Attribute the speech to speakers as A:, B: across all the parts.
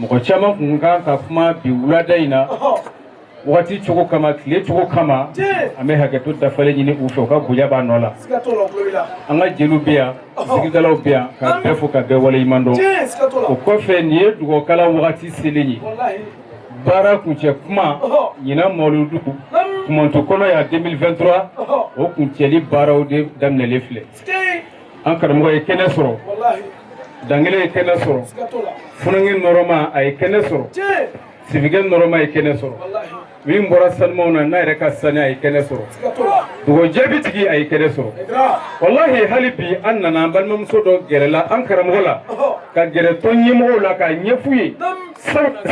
A: mɔgɔ caman kun kan ka kuma bi wulada in na wagati cogo kama tile cogo kama an bɛ hakɛto dafalen ɲini u fɛ u ka bonya b'a nɔ la an ka jeliw bɛ yan sigidalaw bɛ yan ka bɛɛ fo ka bɛɛ waleɲuman dɔn o kɔfɛ nin ye dugawu kalan wagati selen ye baara kuncɛ kuma ɲinan mawuludu kumantu kɔnɔ yan 2023 o kuncɛli baaraw de daminɛlen filɛ an karamɔgɔ ye kɛnɛ sɔrɔ dankelen ye kɛnɛ sɔrɔ funankɛ nɔrɔma a ye kɛnɛ sɔrɔ sirifukɛ nɔrɔma ye kɛnɛ sɔrɔ min bɔra sanumanw na n'a yɛrɛ ka sani a ye kɛnɛ sɔrɔ dugawu jaabitigi a ye kɛnɛ sɔrɔ walahi hali bi an nana an balimamuso dɔ gɛrɛla an karamɔgɔ la ka gɛrɛ tɔn ɲɛmɔgɔw la k'a ɲɛf'u ye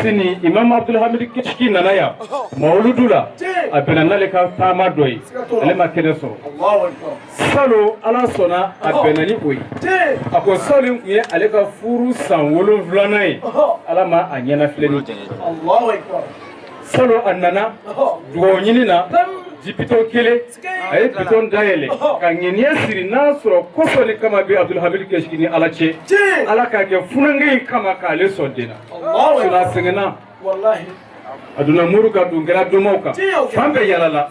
A: sini imam abdulhamid kishki nana yan mawuludu la a bɛnna n'ale ka taama dɔ ye ale ma kɛnɛ sɔrɔ salo ala sɔnna a bɛnna ni o ye a ko salo in kun ye ale ka furu san wolonwulanan ye ala ma a ɲɛnafilɛ ni salo a nana dugawu ɲini na ji bidɔn kelen a ye bidɔn dayɛlɛ ka ŋɛniya siri n'a sɔrɔ kosɔn ni kama bɛ abdulhamid kishki ni ala cɛ ala k'a kɛ funankɛ in kama k'ale sɔn den na a sɛgɛnna a donna moriw kan don kɛra domaw kan fan bɛɛ yalala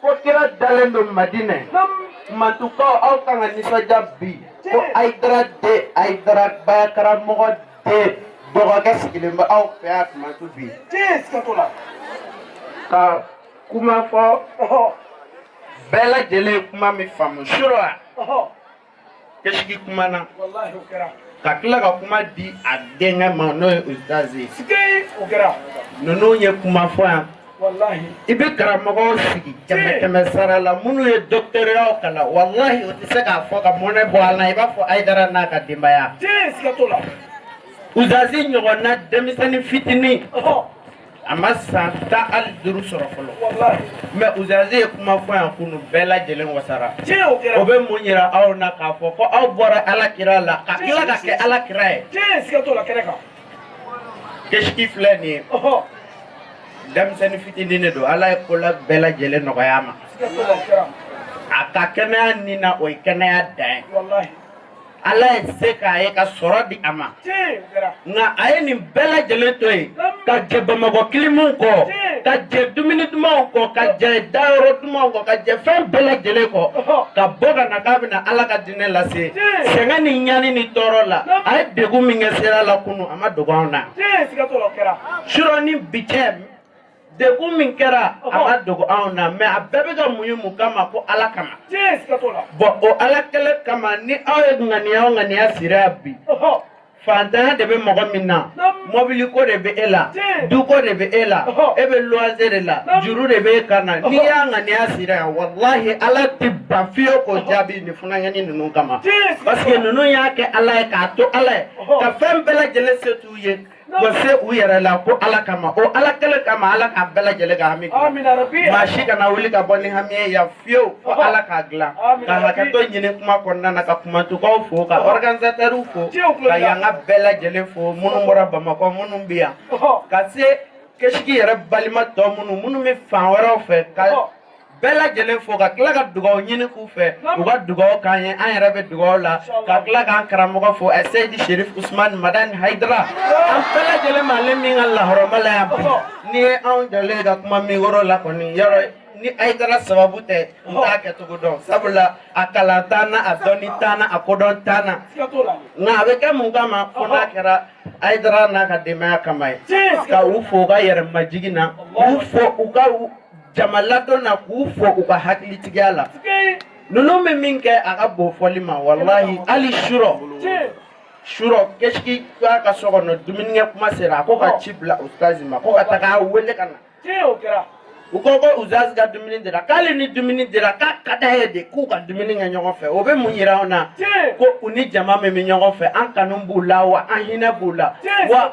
B: Ko kira dalen don Madinɛ. Kumantukaw aw kan ka nisɔndiya bi. Ko Ayidara den Ayidara bayakaramɔgɔ den dɔgɔkɛ sigilen bɛ aw fɛ yan Kumantu bi. Ka kuma fɔ bɛɛ lajɛlen ye kuma min faamu sura. kishki kumana ka tila ka kuma di a denkɛ ma n'o ye ustaz ye ninnu ye kuma fɔ yan i bɛ karamɔgɔw sigi kɛmɛ kɛmɛ sara la minnu ye dɔkitɛriyaw kalan walahi o tɛ se k'a fɔ ka mɔnɛ bɔ a la i b'a fɔ ayidara n'a ka denbaya ustazi ɲɔgɔnna denmisɛnnin fitinin a ma san tan ani duuru sɔrɔ fɔlɔ mɛ ustazi ye kuma fɔ yan kunu bɛɛ lajɛlen wasara o bɛ mun yira aw na k'a fɔ ko aw bɔra ala kira la ka tila ka kɛ ala kira ye kishki filɛ nin ye denmisɛnnin fitinin de don ala ye kola bɛɛ lajɛlen nɔgɔya a ma a ka kɛnɛya nin na o ye kɛnɛya dan ye ala ye se k'a ye ka sɔrɔ di a ma nka a ye nin bɛɛ lajɛlen to yen ka jɛ bamakɔ kilimuw kɔ ka jɛ dumuni dumanw kɔ ka jɛ dayɔrɔ dumanw kɔ ka jɛ fɛn bɛɛ lajɛlen kɔ ka bɔ ka na k'a bɛna ala ka diinɛ lase sɛgɛn ni ɲani ni tɔɔrɔ la a ye degun min kɛ sira la kunu a ma dogo anw na surɔ ni bi cɛ degun min kɛra a ma dogo anw na mais a bɛɛ bɛ ka muɲu mun kama ko ala kama bɔn o ala kelen kama ni aw ye ŋaniya o ŋaniya siri yan bi fantanya de bɛ mɔgɔ min na mɔbili ko de bɛ e la du ko de bɛ e la e bɛ luwanse de la juru de bɛ e kan na n'i y'a ŋaniya siri yan walahi ala tɛ ban fiyewu k'o jaabi nin funankɛni ninnu kama parce que ninnu y'a kɛ ala ye k'a to ala ye ka fɛn bɛɛ lajɛlen se t'u ye Wa se u yɛrɛ la ko ala kama o ala kelen kama ala k'a bɛɛ lajɛlen ka hami maa si kana wuli ka bɔ ni hami ye yan fiyewu fo ala k'a dilan ka hakɛto ɲini kuma kɔnɔna na ka kumatukaw fo ka ɔrɔganizatɛriw fo ka yankaw bɛɛ lajɛlen fo minnu bɔra bamakɔ minnu bɛ yan ka se kesigi yɛrɛ balima tɔ minnu minnu bɛ fan wɛrɛw fɛ ka bɛɛ lajɛlen fo ka tila ka dugaw ɲini k'u fɛ u ka dugaw k'an ye an yɛrɛ bɛ dugaw la ka tila k'an karamɔgɔ fo ɛ seyidi sherif usman madani hayidara an bɛɛ lajɛlen bɛ ale min ka lahɔrɔma la yan bi n'i ye anw jɔlen ka kuma mikoro la kɔni yɔrɔ ni hayidara sababu tɛ n t'a kɛcogo dɔn sabula a kalan t'an na a dɔnni t'an na a kodɔn t'an na nka a bɛ kɛ mun kama fo n'a kɛra hayidara n'a ka denbaya kama ye ka u fo u ka yɛrɛmajigin na u fo u ka jamaladon na k'u fo u ka hakilitigiya la ninnu bɛ min kɛ a ka bon fɔli ma walahi hali surɔ surɔ kɛsiki k'a ka so kɔnɔ dumunikɛ kuma sera a ko ka ci bila ustazi ma ko ka taga wele ka na u ko ko ustazi ka dumuni dira ko hali ni dumuni dira k'a ka d'a ye de k'u ka dumuni kɛ ɲɔgɔn fɛ o bɛ mun yira anw na ko u ni jama min bɛ ɲɔgɔn fɛ an kanu b'u la wa an hinɛ b'u la wa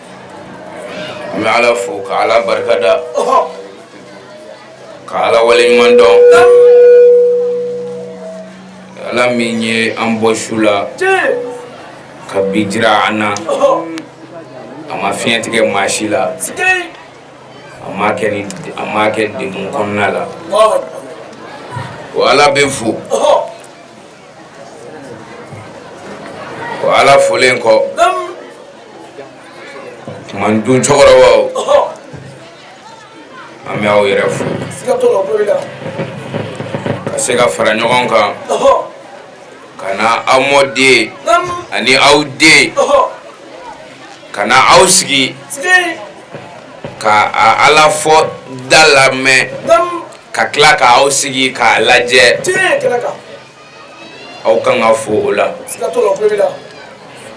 C: N bɛ ala fo ka ala barika da ka ala waleɲumandɔn ala min ye an bɔ su la ka bi jira an na a ma fiɲɛ tigɛ maa si la a ma kɛ degun kɔnɔna la o ala bɛ fo o ala folen kɔ man dun cɛkɔrɔbaw an bɛ aw yɛrɛ fo ka se ka fara ɲɔgɔn kan ka na aw mɔden ani aw den ka na aw sigi ka ala fɔta lamɛn ka tila k' aw sigi k'a lajɛ aw kan ka fo o la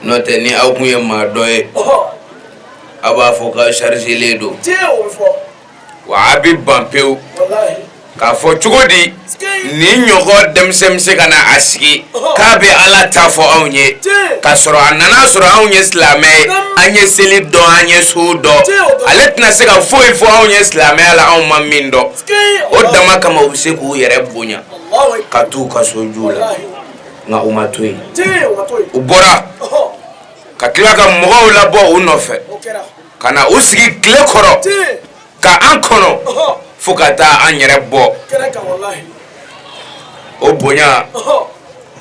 C: n'o tɛ ni aw tun ye maa dɔ ye aw b'a fɔ k'a chargelen don wa a bɛ ban pewu k'a fɔ cogo di nin ɲɔgɔn denmisɛn bɛ se ka na a sigi k'a bɛ ala ta fɔ anw ye k'a sɔrɔ a nana sɔrɔ anw ye silamɛ ye an ye seli dɔn an ye sun dɔn ale tɛna se ka foyi fɔ anw ye silamɛya la anw ma min dɔn o dama kama u bɛ se k'u yɛrɛ bonya ka t'u ka so ju la nka u ma to yen u bɔra ka tila ka mɔgɔw labɔ u nɔfɛ ka na u sigi tile kɔrɔ ka an kɔnɔ fo ka taa an yɛrɛ bɔ o bonya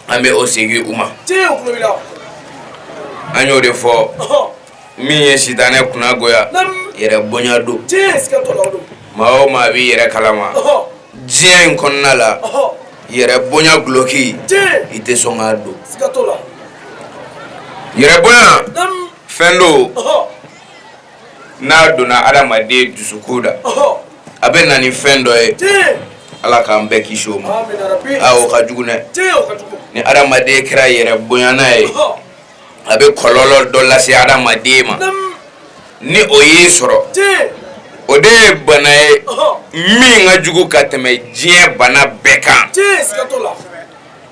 C: an bɛ o segin u ma an y'o de fɔ min ye sitanɛ kunnagoya yɛrɛ bonya don maa o maa b'i yɛrɛ kalama diɲɛ in kɔnɔna la yɛrɛ bonya gulɔki i tɛ sɔn k'a don yɛrɛ bonya fɛn don n'a donna adamaden dusukun na a bɛ na ni fɛn dɔ ye ala k'an bɛɛ kisi o ma a o ka jugu dɛ ni adamaden kɛra yɛrɛ bonyana ye a bɛ kɔlɔlɔ dɔ lase adamaden ma ni o y'i sɔrɔ o de ye bana ye min ka jugu ka tɛmɛ diɲɛ bana bɛɛ kan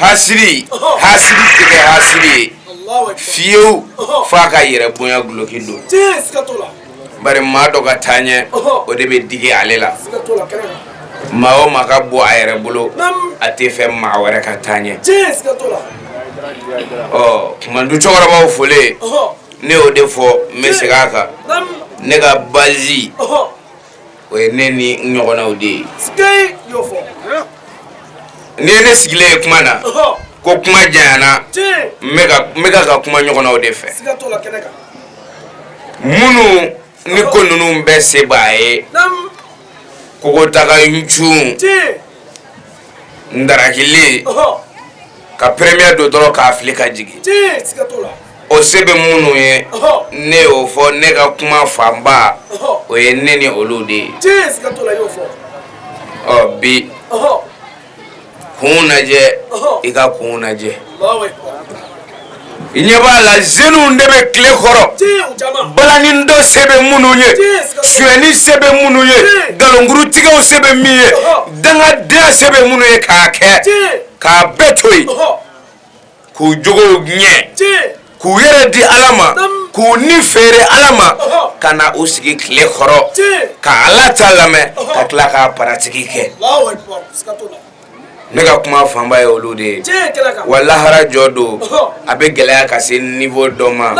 C: hasidi hasidi tɛ kɛ hasidi ye fiyewu fo a ka yɛrɛ bonya gulɔki don bari maa dɔ ka taa ɲɛ o de bɛ digi ale la maa o maa ka bɔ a yɛrɛ bolo a tɛ fɛ maa wɛrɛ ka taa ɲɛ ɔ du cɛkɔrɔbaw folilen ne y'o de fɔ n bɛ segin a kan ne ka bazi o ye ne ni ɲɔgɔnnaw de ye n'i ye ne sigilen ye kuma na ko kuma jayana n bɛ ka ka kuma ɲɔgɔnnaw de fɛ minnu ni ko ninnu bɛɛ se b'a ye kogotaga ncun ndarakilen ka peremeye don dɔrɔn k'a fili ka jigin o se bɛ minnu ye ne y'o fɔ ne ka kuma fanba o ye ne ni olu de ye ɔ bi kun lajɛ i ka kun lajɛ i ɲɛ b'a la zeniw de bɛ tile kɔrɔ balani dɔn se bɛ minnu ye suɲɛni se bɛ minnu ye nkalonkurutigɛw se bɛ min ye dangadenya se bɛ minnu ye k'a kɛ k'a bɛɛ to yen k'u jogo ɲɛ k'u yɛrɛ di ala ma k'u ni feere ala ma ka na u sigi tile kɔrɔ ka ala ta lamɛn ka tila k'a paratiki kɛ ne ka kuma fanba ye olu de ye wa lahara jɔ don a bɛ gɛlɛya ka se nivo dɔ ma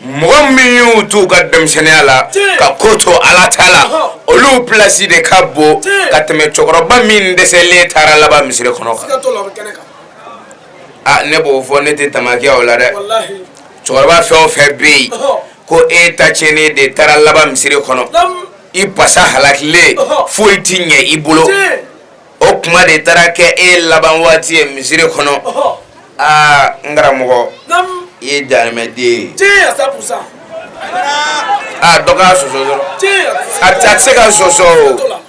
C: mɔgɔ min y'u t'u ka denmisɛnninya la ka ko to ala ta la olu plasi de ka bon ka tɛmɛ cɛkɔrɔba min dɛsɛlen taara laban misiri kɔnɔ kan aa ne b'o fɔ ne tɛ tamakiya o la dɛ cɛkɔrɔba fɛn o fɛn bɛ yen ko e ta tiɲɛnen de taara laban misiri kɔnɔ i pasa halakilen foyi tɛ ɲɛ i bolo o kuma de taara kɛ e laban waati ye misiri kɔnɔ aa n karamɔgɔ i ye jarimɛden ye aa dɔ k'a sɔsɔ dɔrɔn a tɛ se ka sɔsɔ o.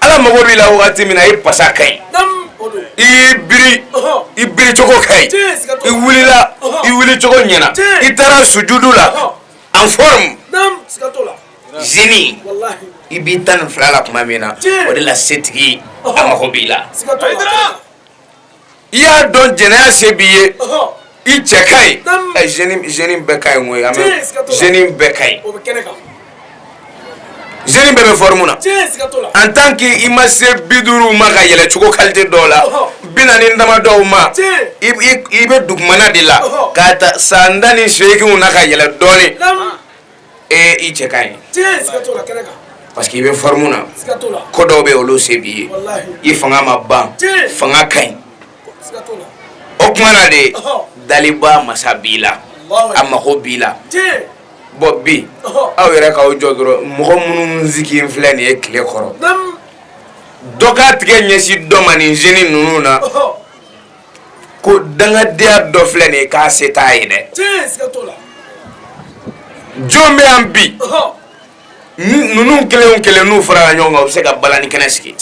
C: ala mago b'i la waati min na i pasa ka ɲi i y'i biri i biricogo ka ɲi i wulila i wulicogo ɲɛna i taara sujudu la en forme zeni i b'i tan ni fila la tuma min na o de la setigi a mago b'i la i y'a dɔn zeniya se b'i ye i cɛ ka ɲi ɛ zeni bɛɛ ka ɲi koyi an bɛ zeni bɛɛ ka ɲi zeni bɛɛ bɛ fɔrimu na en tant que i ma se bi duuru ma ka yɛlɛn cogo kalite dɔw la bi naani dama dɔw ma i i bɛ dugumana de la k'a ta san tan ni seeginw na ka yɛlɛn dɔɔnin. Ee i cɛ ka ɲi parce que i bɛ fɔrimu na ko dɔw bɛ olu se b'i ye i fanga ma ban fanga ka ɲi o kuma na de dalibaa masa b'i la a mago b'i la bɔn bi aw yɛrɛ k'aw jɔ dɔrɔn mɔgɔ minnu sigilen filɛ nin ye tile kɔrɔ dɔ ka tigɛ ɲɛsin dɔ ma nin zeni ninnu na ko dangadenya dɔ filɛ nin ye k'a se t'a ye dɛ jɔn bɛ yan bi ninnu kelen kelen n'u farala ɲɔgɔn kan u bɛ se ka balani kɛnɛ sigi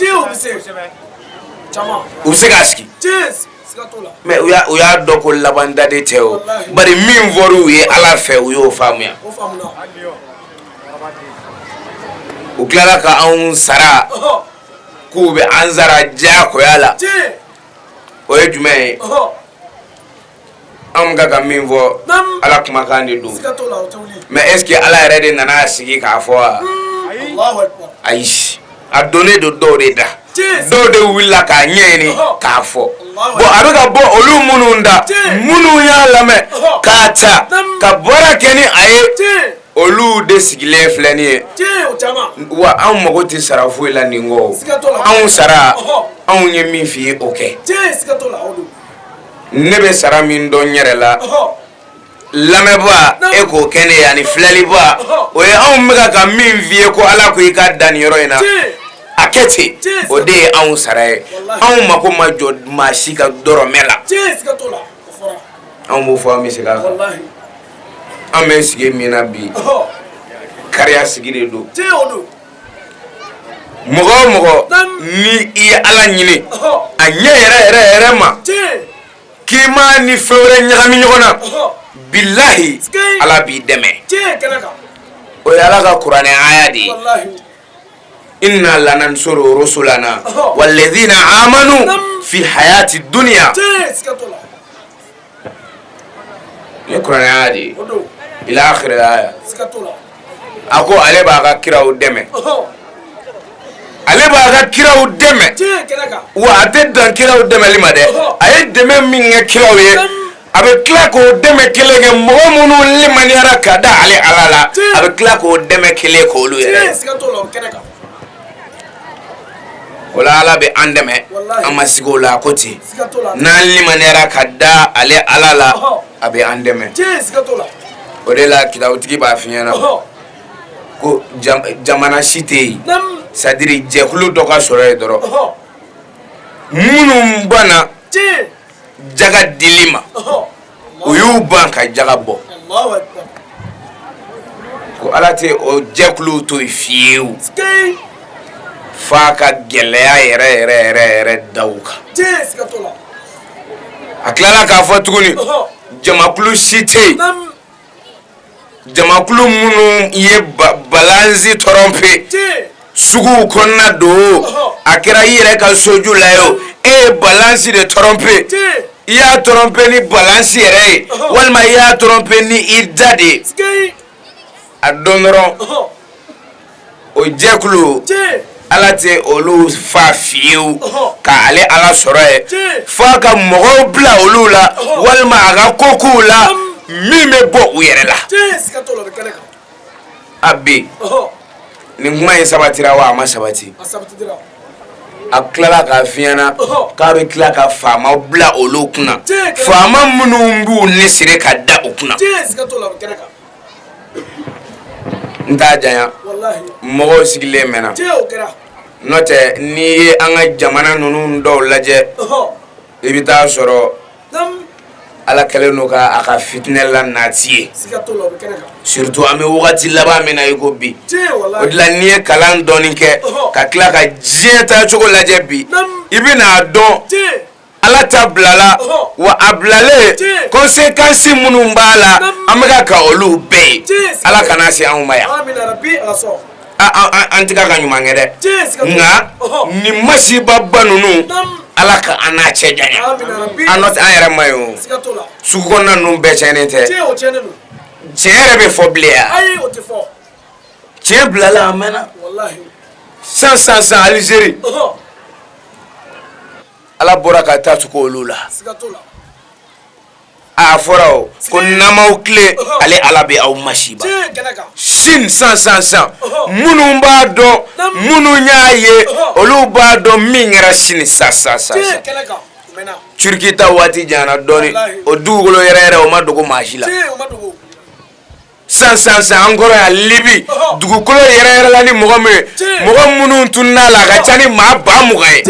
C: u bɛ se k'a sigi mɛ u y'a dɔn ko laban da de tɛ o bari min fɔra u ye ala fɛ u y'o faamuya u tilala ka anw sara k'u bɛ an sara diyagoya la o ye jumɛn ye anw ka ka min fɔ ala kumakan de don mɛ eseke ala yɛrɛ de nana sigi k'a fɔ wa ayi a donnen don dɔw de da dɔw de wulila k'a ɲɛɲini k'a fɔ bɔn a bɛ ka bɔ olu minnu da minnu y'a lamɛn k'a ta ka baara kɛ ni a ye olu de sigilen filɛ nin ye wa anw mago tɛ sara foyi la nin kɔ anw sara anw ye min fɔ i ye o kɛ ne bɛ sara min dɔn yɛrɛ la lamɛnbaa e k'o kɛ ne ye ani filɛlibaa o ye anw bɛka ka min fɔ i ye ko ala ko i ka dan nin yɔrɔ in na a kɛ ten o de ye anw sara ye anw mako ma jɔ maa si ka dɔrɔmɛ la anw b'o fɔ an bɛ se kan an bɛ sigi min na bi kariya sigi de don mɔgɔ o mɔgɔ ni i ye ala ɲini a ɲɛ yɛrɛ yɛrɛ yɛrɛ ma k'i ma ni fɛn wɛrɛ ɲagami ɲɔgɔn na bilahi ala b'i dɛmɛ o ye ala ka kuranɛ aya de ye inna lanansuru rusulana walladhina amanu fi hayati dunya Nin ye kuranɛ aya de ye ila akhir aya a ko ale b'a ka kiraw dɛmɛ ale b'a ka kiraw dɛmɛ wa a tɛ dan kiraw dɛmɛli ma dɛ a ye dɛmɛ min kɛ kiraw ye a bɛ tila k'o dɛmɛ kelen kɛ mɔgɔ minnu limaniyara ka da ale ala la a bɛ tila k'o dɛmɛ kelen k'olu ye o la ala bɛ an dɛmɛ an ma siga o la ko ten n'an limaniyara ka da ale ala la a bɛ an dɛmɛ o de la kitabutigi b'a f'i ɲɛna ko jamana si tɛ yen c'est-à-dire jɛkulu dɔ ka sɔrɔ yen dɔrɔn minnu banna jaga dili ma u y'u ban ka jaga bɔ ko ala tɛ o jɛkulu to yen fiyewu f'a ka gɛlɛya yɛrɛ yɛrɛ yɛrɛ yɛrɛ da u kan a tilala k'a fɔ tuguni jamakulu si tɛ yen jamakulu minnu ye balansi tɔrɔnpe suguw kɔnɔna don a kɛra i yɛrɛ ka soju la ye o e ye balansi de tɔrɔnpe i y'a tɔrɔnpe ni balansi yɛrɛ ye walima i y'a tɔrɔnpe ni i da de ye a dɔn dɔrɔn. o jɛkulu ala tɛ olu fa fiyewu ka ale ala sɔrɔ yen fo a ka mɔgɔw bila olu la walima a ka kokow la min bɛ bɔ u yɛrɛ la a bɛ nin kuma in sabatira wa a ma sabati a tilala k'a f'i ɲɛna k'a bɛ tila ka faama bila olu kunna faama minnu b'u ni siri ka da u kunna n t'a janya mɔgɔw sigilen mɛnna n'o tɛ n'i ye an ka jamana ninnu dɔw lajɛ i bɛ taa sɔrɔ ala kɛlen don ka a ka fitinɛ la nati yen surtout an bɛ wagati laban min na i ko bi o de la n'i ye kalan dɔɔni kɛ ka tila ka diɲɛ taacogo lajɛ bi i bɛna a dɔn ala ta bilala wa a bilalen kɔnsekansi minnu b'a la an bɛka ka olu bɛɛ ye ala kana se anw ma yan an tɛka ka ɲuman kɛ dɛ nka nin masibaba ninnu ala ka an n'a cɛ janya an nɔ an yɛrɛ ma ye o sugu kɔnɔna ninnu bɛɛ cɛnnen tɛ tiɲɛ yɛrɛ bɛ fɔ bilen yan tiɲɛ bilala a mɛnna san san san alizeri ala bɔra ka ta tugu olu la a fɔra o ko n'aw m'aw tilen ale ala bɛ aw masiba sini san san san minnu b'a dɔn minnu y'a ye olu b'a dɔn min kɛra sini san san san turiki ta waati janyana dɔɔnin o dugukolo yɛrɛyɛrɛ o ma dogo maa si la san san san an kɔrɔ yan libi dugukolo yɛrɛyɛrɛla ni mɔgɔ min ye mɔgɔ minnu tunn'a la a ka ca ni maa ba mugan ye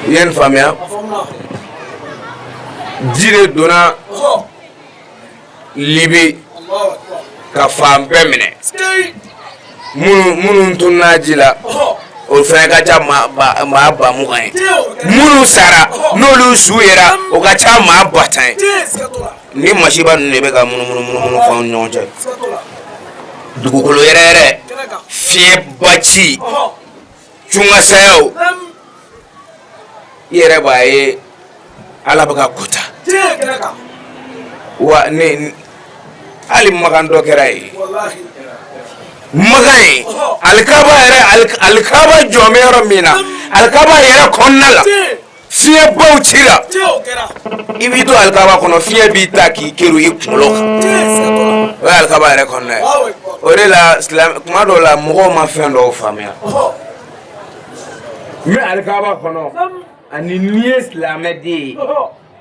C: i ye nin faamuya ji de donna libi ka fan bɛɛ minɛ minnu minnu tunna ji la o fɛnɛ ka ca maa ba maa ba mugan ye minnu sara n'olu su yera o ka ca maa ba tan ye nin masiba ninnu de bɛ ka munumunu munumunu fɔ an ni ɲɔgɔn cɛ dugukolo yɛrɛyɛrɛ fiɲɛba ci cunkasayaw i yɛrɛ b'a ye ala bɛ ka ko ta wa ne hali makan dɔ kɛra yen makan yen alikaba yɛrɛ alikaba jɔlen bɛ yɔrɔ min na alikaba yɛrɛ kɔnɔna la fiɲɛbaw cira i b'i to alikaba kɔnɔ fiɲɛ b'i ta k'i kerun i kunkolo kan o ye alikaba yɛrɛ kɔnɔna ye o de la kuma dɔw la mɔgɔw ma fɛn dɔw faamuya mɛ alikaba kɔnɔ ani n'i ye silamɛden ye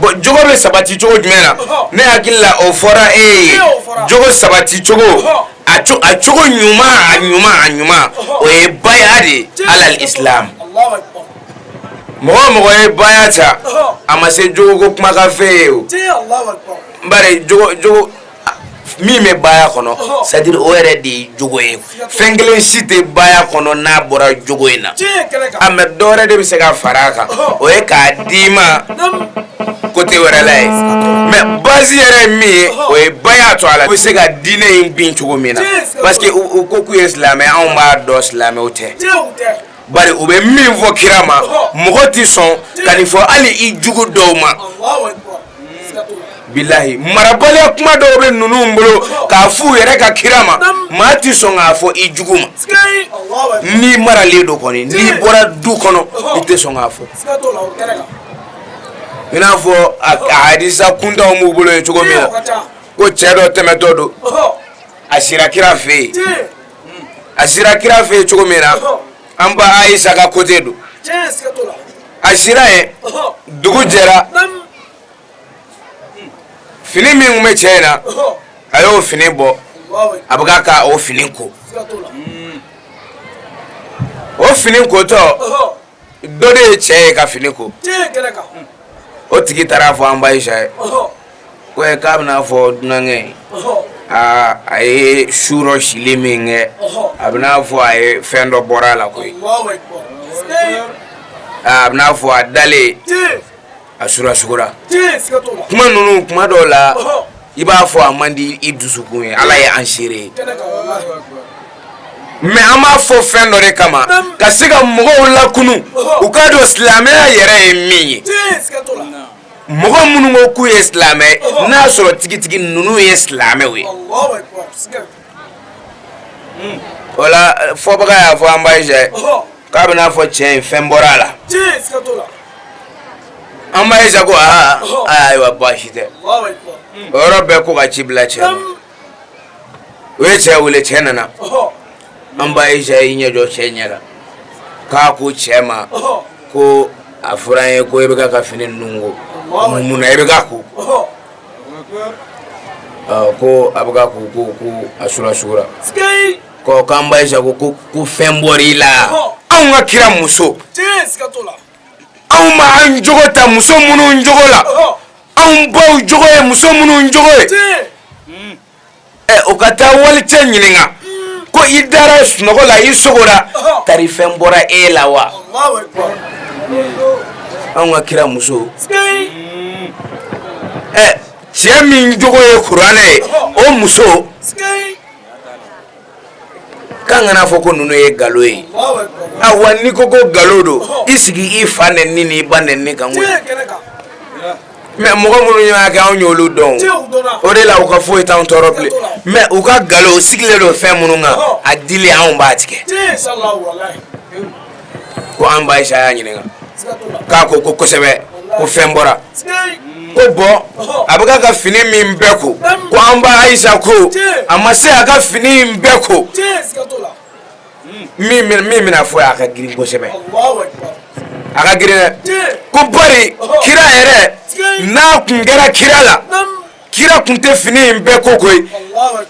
C: bɔn jogo bɛ sabati cogo jumɛn na ne hakili la o fɔra e ye jogo sabati cogo a a cogo ɲuman a ɲuman a ɲuman o ye baya de ye alal islam mɔgɔ mɔgɔ ye baya ta a ma se jogo ko kumakanfɛn ye o bari jogo jogo min bɛ baya kɔnɔ sadiri o yɛrɛ de ye jogo ye fɛn kelen si tɛ baya kɔnɔ n'a bɔra jogo in na a mɛ dɔ wɛrɛ de bɛ se ka fara a kan o ye k'a d'i ma kote wɛrɛ la ye mɛ bazi yɛrɛ ye min ye o ye baya to a la u bɛ se ka diinɛ in bin cogo min na parce que u ko k'u ye silamɛ anw b'a dɔn silamɛw tɛ bari u bɛ min fɔ kira ma mɔgɔ tɛ sɔn ka nin fɔ hali i jugu dɔw ma bilahi marabaliya kuma dɔw bɛ ninnu bolo k'a f'u yɛrɛ ka kira ma maa tɛ sɔn k'a fɔ i jugu ma n'i maralen don kɔni n'i bɔra du kɔnɔ i tɛ sɔn k'a fɔ i n'a fɔ a hadisa kuntanw b'u bolo yen cogo min na ko cɛ dɔ tɛmɛtɔ don a sira kira fɛ yen a sira kira fɛ yen cogo min na an ba ayisa ka côté don a sira yen dugu jɛra fini min tun bɛ cɛ in na a y'o fini bɔ a bɛ ka o fini ko o fini kotɔ dɔ de ye cɛ ye ka fini ko o tigi taara a fɔ an ba ayisa ye ko k'a b'i n'a fɔ dunankɛ aa a ye surɔ sili min kɛ a b'i n'a fɔ a ye fɛn dɔ bɔra a la koyi a b'i n'a fɔ a dalen a sura sugora kuma ninnu kuma dɔw la i b'a fɔ a man di i dusukun ye ala ye an seere ye mais an b'a fɔ fɛn dɔ de kama ka se ka mɔgɔw lakunu u k'a dɔn silamɛya yɛrɛ ye min ye mɔgɔ minnu ko k'u ye silamɛ n'a sɔrɔ tigitigi ninnu ye silamɛw ye o la fɔbaga y'a fɔ an ba ayisa ye k'a b'i n'a fɔ cɛ in fɛn bɔra a la an ba ayisa ko aa ayiwa baasi tɛ o yɔrɔ bɛɛ ko ka ci bila cɛ ma u ye cɛ wele cɛ nana an ba ayisa y'i ɲɛ jɔ cɛ ɲɛ la k'a ko cɛ ma ko a fɔra an ye ko e bɛ ka ka fini ninnu ko mun na e bɛ ka ko ko a bɛ ka ko ko a sura sugora ko k'an ba ayisa ko ko ko fɛn bɔra i la anw ka kira muso anw b'an jogo ta muso minnu jogo la anw baw jogo ye muso minnu jogo ye ɛ o ka taa walicɛ ɲininka ko i dara sunɔgɔ la i sugora tari fɛn bɔra e la wa anw ka kira muso ɛ cɛ min jogo ye kuranɛ ye o muso k'an kana fɔ ko ninnu ye nkalon ye awa n'i ko ko nkalon don i sigi i fa nɛni n'i ba nɛni kan koyi mais mɔgɔ minnu y'a kɛ anw y'olu dɔn o de la u ka foyi t'anw tɔɔrɔ bilen mais u ka nkalon u sigilen don fɛn minnu kan a dili anw b'a tigɛ ko an ba ayisa y'a ɲininka k'a ko ko kosɛbɛ ko fɛn bɔra ko bɔn a bɛ ka fini min bɛɛ ko ko an ba ayisa ko a ma se a ka fini in bɛɛ ko min bɛna fɔ a ka girin kosɛbɛ a ka girin dɛ ko bari kira yɛrɛ n'a tun kɛra kira la kira tun tɛ fini in bɛɛ ko koyi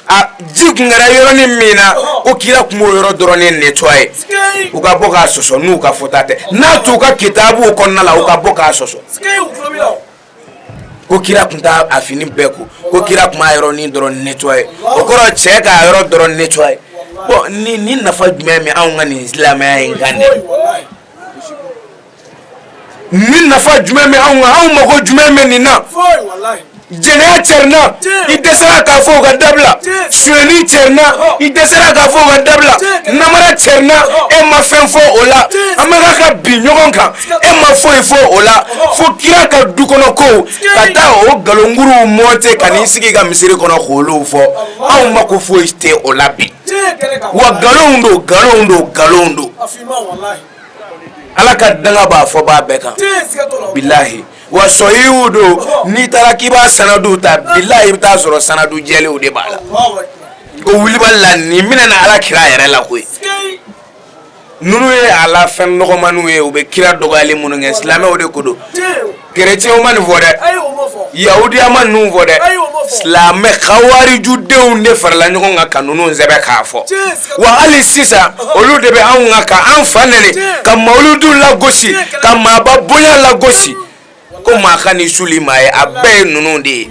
C: a ji tun kɛra yɔrɔnin min na ko kira tun b'o yɔrɔ dɔrɔn nettoyer u ka bɔ k'a sɔsɔ n'u ka fɔta tɛ n'a t'u ka kitabuw kɔnɔna la u ka bɔ k'a sɔsɔ ko kira tun t'a fini bɛɛ ko ko kira tun b'a yɔrɔnin dɔrɔn nettoyer o kɔrɔ cɛ k'a yɔrɔ dɔrɔn nettoyer bɔn nin nafa jumɛn bɛ anw ka nin silamɛya in kan dɛ nin nafa jumɛn bɛ anw kan anw mago jumɛn bɛ nin na jɛnɛya cɛrina i dɛsɛra k'a fɔ u k'a dabila suyɛni cɛrina i dɛsɛra k'a fɔ u k'a dabila namara cɛrina e ma fɛn fɔ o la an bɛ ka ka bin ɲɔgɔn kan e ma foyi fɔ o la fo kira ka du kɔnɔ kow ka taa o nkalonkuruw monter ka n'i sigi ka misiri kɔnɔ k'olu fɔ anw mako foyi tɛ o la bi wa nkalonw don nkalonw don nkalonw don Ala ka danga b'a fɔbaa bɛɛ kan bilayi wa sɔhiw don n'i taara k'i b'a sanadu ta bilayi i bɛ taa sɔrɔ sanadu jɛlenw de b'a la ko wulibali la nin bɛna na ala kira yɛrɛ la koyi ninnu ye a la fɛn nɔgɔmanw ye u bɛ kira dɔgɔyali minnu kɛ silamɛw de ko don kerecɛnw ma nin fɔ dɛ yahudiya ma ninnu fɔ dɛ silamɛ kawarijudenw de farala ɲɔgɔn kan ka ninnu sɛbɛn k'a fɔ wa hali sisan olu de bɛ anw kan ka an fa nɛni ka mawuludu lagosi ka maaba bonya lagosi ko maa kan'i suli maa ye a bɛɛ ye ninnu de ye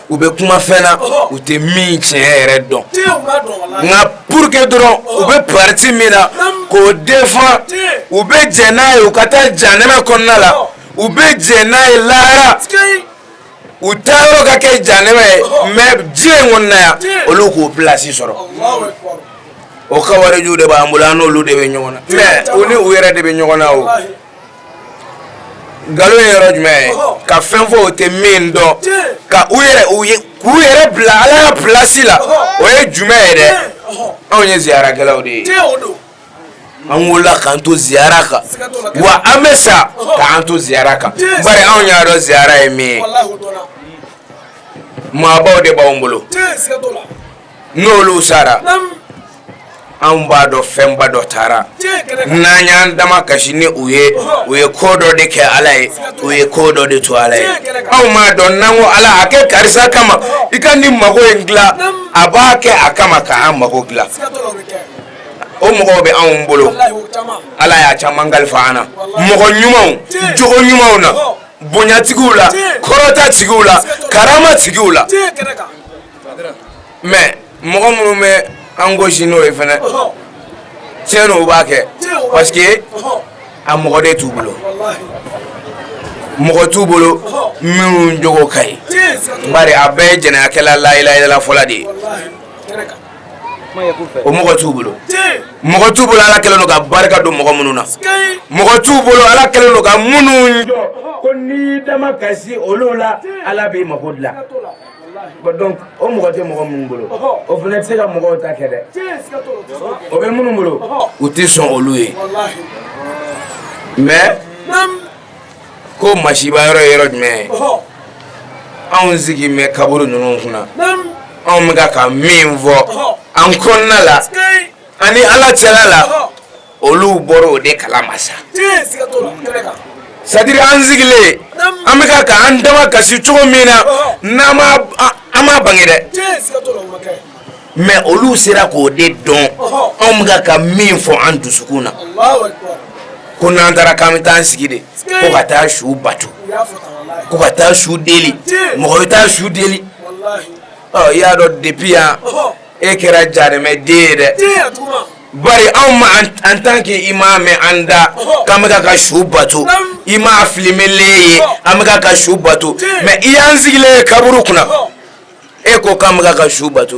C: u bɛ kuma fɛn na u tɛ min tiɲɛ yɛrɛ dɔn nka pour que dɔrɔn u bɛ parti min na k'o défendre u bɛ jɛn n'a ye u ka taa jahanama kɔnɔna la u bɛ jɛn n'a ye lahara u taa yɔrɔ ka kɛ jahanama ye mais diɲɛ in kɔnɔna yan olu k'u plasi sɔrɔ o kawarijuw de b'an bolo an n'olu de bɛ ɲɔgɔn na mais u ni u yɛrɛ de bɛ ɲɔgɔn na o nkalon ye yɔrɔ jumɛn ye ka fɛn fɔ u tɛ min dɔn ka u ye k'u yɛrɛ bila ala ka pilasi la o ye jumɛn ye dɛ anw ye ziyarakɛlaw de ye an wolola k'an to ziyara kan wa an bɛ sa k'an to ziyara kan bari anw y'a dɔn ziyara ye min ye maabaw de b'anw bolo n'olu sara anw b'a dɔn fɛnba dɔ taara n'an y'an damakasi ni u ye u ye ko dɔ de kɛ ala ye u ye ko dɔ de to ala ye anw b'a dɔn n'an ko ala a kɛ karisa kama i ka ne mago in dilan a b'a kɛ a kama k'an mago dilan o mɔgɔw bɛ anw bolo ala y'a caman kalifa an na mɔgɔ ɲumanw jogo ɲumanw na bonyatigiw la kɔrɔtatigiw la karamatigiw la mais mɔgɔ minnu bɛ an gosi n'o ye fana tiɲɛ don u b'a kɛ parce que a mɔgɔ de t'u bolo mɔgɔ t'u bolo minnu jogo ka ɲi bari a bɛɛ ye jɛnɛyakɛla la ilaha illa fɔla de ye o mɔgɔ t'u bolo mɔgɔ t'u bolo ala kɛlen don ka barika don mɔgɔ minnu na mɔgɔ t'u bolo ala kɛlen don ka minnu jɔ ko n'i damakasi olu la ala b'i mako dilan donc o mɔgɔ tɛ mɔgɔ minnu bolo o fana tɛ se ka mɔgɔw ta kɛ dɛ o bɛ minnu bolo u tɛ sɔn olu ye mais ko masiba yɔrɔ ye yɔrɔ jumɛn ye anw sigilen bɛ kaburu ninnu kunna anw bɛ ka ka min fɔ an kɔnɔna la ani ala cɛla la olu bɔra o de kala ma sa c'est-à-dire an sigilen an bɛka ka an damakasi cogo min na n'an an ma bange dɛ mais olu sera k'o de dɔn anw bɛka ka min fɔ an dusukun na ko n'an taara k'an bɛ taa sigi de ko ka taa su bato ko ka taa su deli mɔgɔ bɛ taa su deli i y'a dɔn depuis yan e kɛra jaremɛ den ye dɛ Bari anw ma en tant que i m'a mɛn an da k'an bɛka ka su bato i m'a filmɛlen ye an bɛ ka su bato mais i y'an sigilen ye kaburu kunna e ko k'an bɛ ka su bato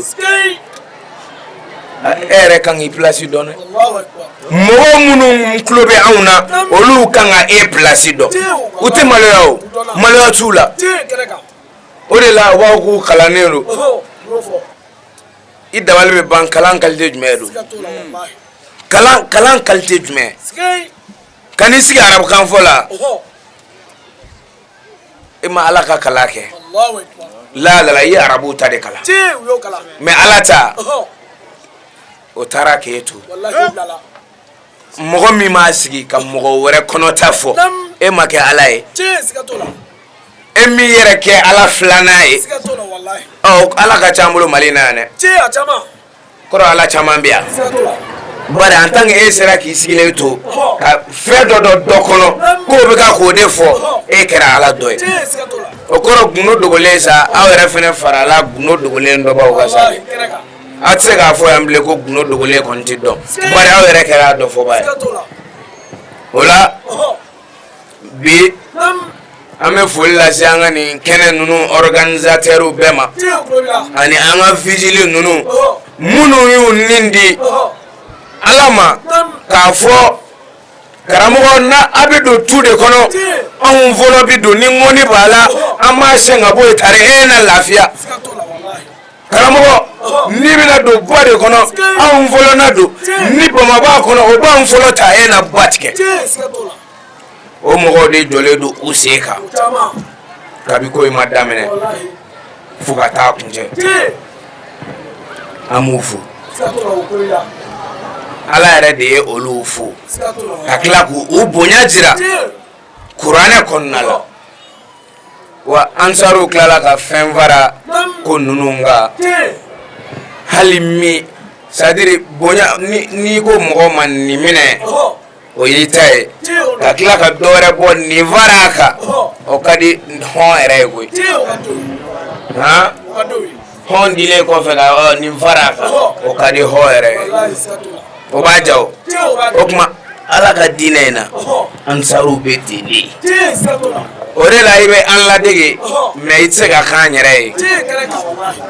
C: e yɛrɛ ka kan k'i place dɔn mɔgɔ minnu tulo bɛ anw na olu kan ka e place dɔn u tɛ maloya o maloya t'u la o de la wa k'u kalannen don i dabali bɛ ban kalan qualité jumɛn don kalan qualité jumɛn ka n'i sigi arabukanfɔ la e ma ala ka kalan kɛ laala i ye arabu ta de kalan mais ala ta o taara k'e to mɔgɔ min b'a sigi ka mɔgɔ wɛrɛ kɔnɔta fɔ e ma kɛ ala ye e m'i yɛrɛ kɛ ala filanan ye ala ka ca an bolo mali na yan dɛ kɔrɔ ala caman bɛ yan bari en tant que e sera k'i sigilen to ka fɛn dɔ dɔn dɔ kɔnɔ k'o bɛ ka k'o de fɔ e kɛra ala dɔ ye o kɔrɔ gundo dogolen sa aw yɛrɛ fana farala gundo dogolen dɔnbaw kan sa aw tɛ se k'a fɔ yan bilen ko gundo dogolen kɔni tɛ dɔn bari aw yɛrɛ kɛra a dɔ fɔbaa ye o la bi an bɛ foli lase an ka nin kɛnɛ ninnu organisateur bɛɛ ma ani an ka vigile ninnu minnu y'u ni di ala ma k'a fɔ karamɔgɔ n'a bɛ don tu de kɔnɔ anw fɔlɔ bɛ don ni ŋɔni b'a la an b'a sɛn ka bɔ yen tari e na lafiya karamɔgɔ n'i bɛna don ba de kɔnɔ anw fɔlɔ na don ni bama b'a kɔnɔ o b'anw fɔlɔ ta e na ba tigɛ o mɔgɔw de jɔlen don u sen kan kabi ko in ma daminɛ fo ka taa kuncɛ an b'u fo ala yɛrɛ de ye olu fo ka tila k'u bonya jira kuranɛ kɔnɔna la wa ansaruw tilala ka fɛn fara ko ninnu kan hali min c'est-à-dire bonya n'i ko mɔgɔ ma nin minɛ o y'i ta ye ka tila ka dɔ wɛrɛ bɔ nin fara a kan o ka di hɔn yɛrɛ ye koyi han hɔn dilen kɔfɛ ka nin fara a kan o ka di hɔn yɛrɛ ye o b'a jira ko o tuma ala ka diinɛ in na ansaruw bɛ ten de o de la i bɛ an ladege mais i tɛ se ka k'an yɛrɛ ye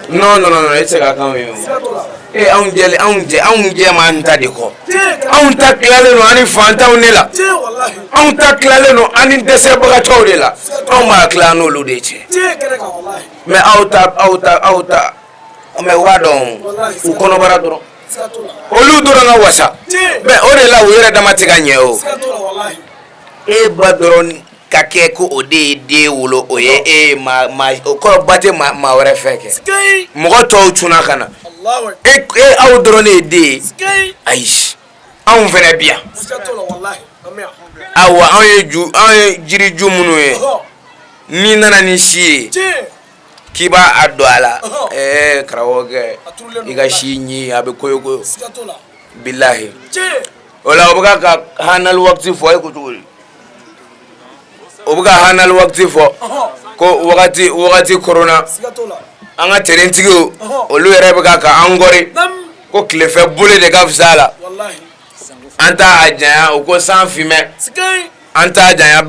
C: non non non i tɛ se ka k'anw ye o e anw jɛ anw jɛ anw jɛ m'an ta de kɔ anw ta tilalen don an ni fantanw de la anw ta tilalen don an ni dɛsɛbagatɔw de la anw b'a tila n'olu de cɛ mais aw ta aw ta aw ta mais waa dɔn u kɔnɔbara dɔrɔn olu dɔrɔn ka wasa mais o de la u yɛrɛ dama tɛ ka ɲɛ o e ba dɔrɔn ka kɛ ko o de ye den wolo o ye e o kɔrɔ ba tɛ maa wɛrɛ fɛ kɛ mɔgɔ tɔw cunna ka na e aw dɔrɔn de ye den ye ayi anw fɛnɛ bi yan awa anw ye ju anw ye jiriju minnu ye n'i nana ni si ye k'i b'a don a la ɛɛ karamɔgɔkɛ i ka si ɲin a bɛ koyo koyo bilahi o la o bɛ ka hanali wakati fɔ e ko cogo di o bɛ ka hanali wakati fɔ ko wagati wagati korona an ka terentigiw olu yɛrɛ bɛ ka ka an kɔri. ko tilefɛ boli de ka fisa a la an t'a janya o ko san finnen an t'a janya